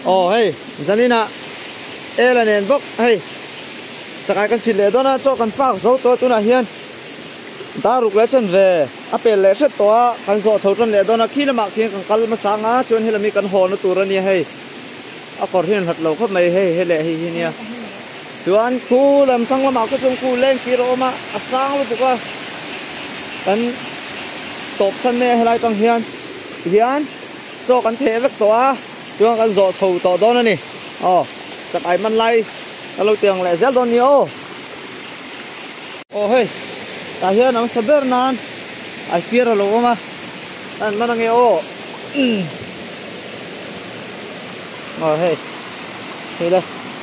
Aw hei, Zalina, e la nen bawk hei. Chakai kan chhit leh dawn a, chaw kan fak zo tawh a tunah hian dar ruk leh chen ve a pel leh hret tawh a, kan zawh chho tan leh dawn a, khi lamah khian kan kal hmasa ang a, chuan hela mi kan haw na tur a nia hei. A kawr hi an hlat lo khawp mai hei, he leh hei hi nia. Chuan khu lam thlang lamah khu chuan khu leng tir a awm a, a sang lutuk a, kan tawpchhan mai a helai tang hian hian chaw kan theh vek tawh a, chuan kan zawh chho tawh dawn a ni, aw chak ai man lai ka lo tih ang leh zel dawn a ni aw. Aw hei, tah hian an sa ber nan ai fiar a lo awm a, a han man ange aw, aw hei, hei le.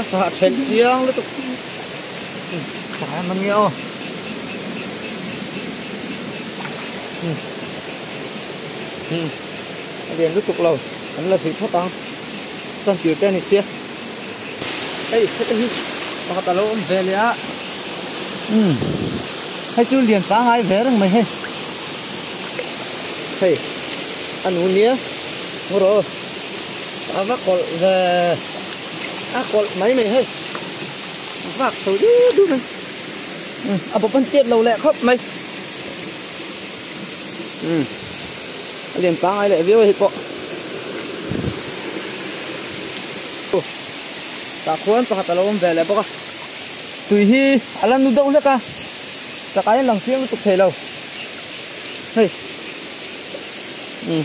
a sa a then chiang lutuk pakhat an awm nia aw um um a lian lutuk lo an la zui phawt ang chuan tir te a ni si a hei heta hi pakhat a lo awm ve leh a um hei chu lian pangai ve reng mai hei hei a nu nia ngaw rawh. a va kawlh ve a kawlh mai mai hei a vak tho duh duh mai a bawp an tiat lo leh khawp mai um a lian pangai leh viau a hi pawh tah khuan pakhat a lo awm ve leh bawk a tui hi a la nu deuh hlek a takah hian lang chiang lutuk thei lo hei um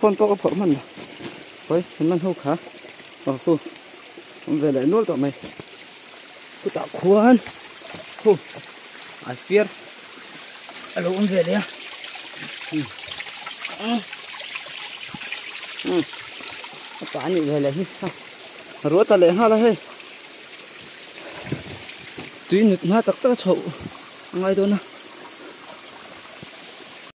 phone pawh ka phawrh man lo hawi an man ho kha aw hu awm ve leh nual tawh mai khutah khuan hu an fiar a lo awm ve leh a hmm hmm hmm a tah a nih ve leh hi ha a ruah ta leh nghal a hei tui nut hma tak tak a chhoh a ngai dawn a.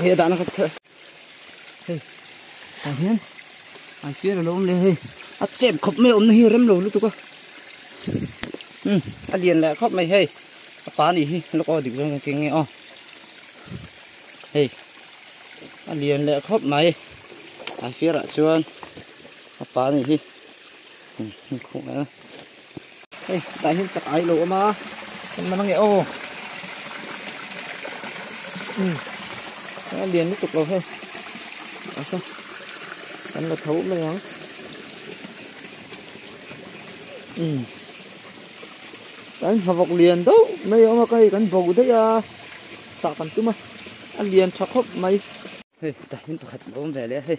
hei a dahna kha hei tah hian an fiar a lo awm leh a hei a chep khawp mai a awmna hi a rem lo lutuk a umm a lian leh khawp mai hei a pa nih hi lawkaw a dik zawng zawng keng nge aw hei a lian leh khawp mai an fiar ah chuan a pa nih hi umm inkhawm nge a. Hei, tah hian chak ai lo awm a, kan man ange aw. Hmm, a lian lutuk lo hei. Asa, kan la tho mai ang. Hmm. Kan havok lian do mai awm a kai kan bo dei a. Sa kan tum a. A lian tha khop mai. Hei, tah hian pakhat lo awm ve leh a hei.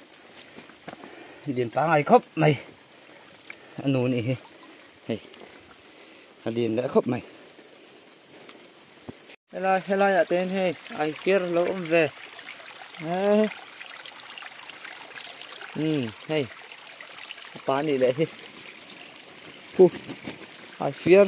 Lian tlangai khop mai. a nu nih hi hei a din leh khawp mai helai helai ah ten hei ai fiar lo awm ve eh um hei pa nih leh hi pu ai fiar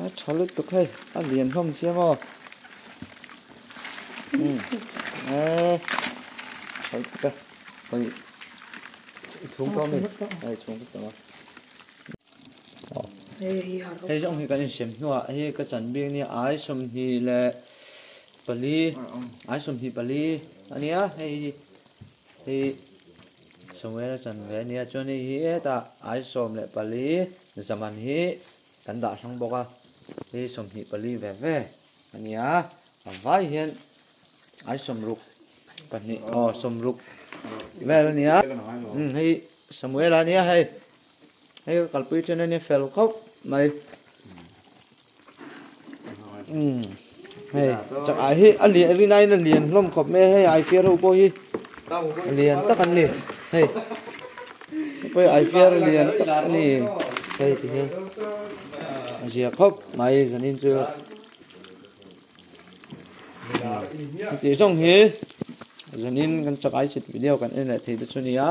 A tha lutuk hei, a lian hlawm sia maw? Hmm. Eh, tha lutuk e. Hoi, i chhung tawh mi. Hei, chhung tawh tawh ma. Hei zawng hi kan insem hnuah ah hi ka chanbik nia, ai sawmhnih leh pali, ai sawmhnih pali a nia hei hi. Hei. Samuel a chan ve a nia chuan hei hi heta ai sawm leh pali zaman hi kan dah hrang bawk a, hei hi sawmhnih pali ve ve a nia, a vai hian ai sawmruk pahnih aw sawmruk vel a nia, hei hi Samuel a nia hei. Hei ka kalpui ṭhian ania fel khauh mai. Umm hei chakah hi a lian rinain a lian hlawm khawp mai a hei a aifiar ho pawh hi a lian tak an ni. Hei ka pawi aifiar a lian tak a ni hei ti hian a ziak khawp mai zanin chu heti zawng hi zanin kan chakah hi chhit video kan en leh thei te chu a ni a.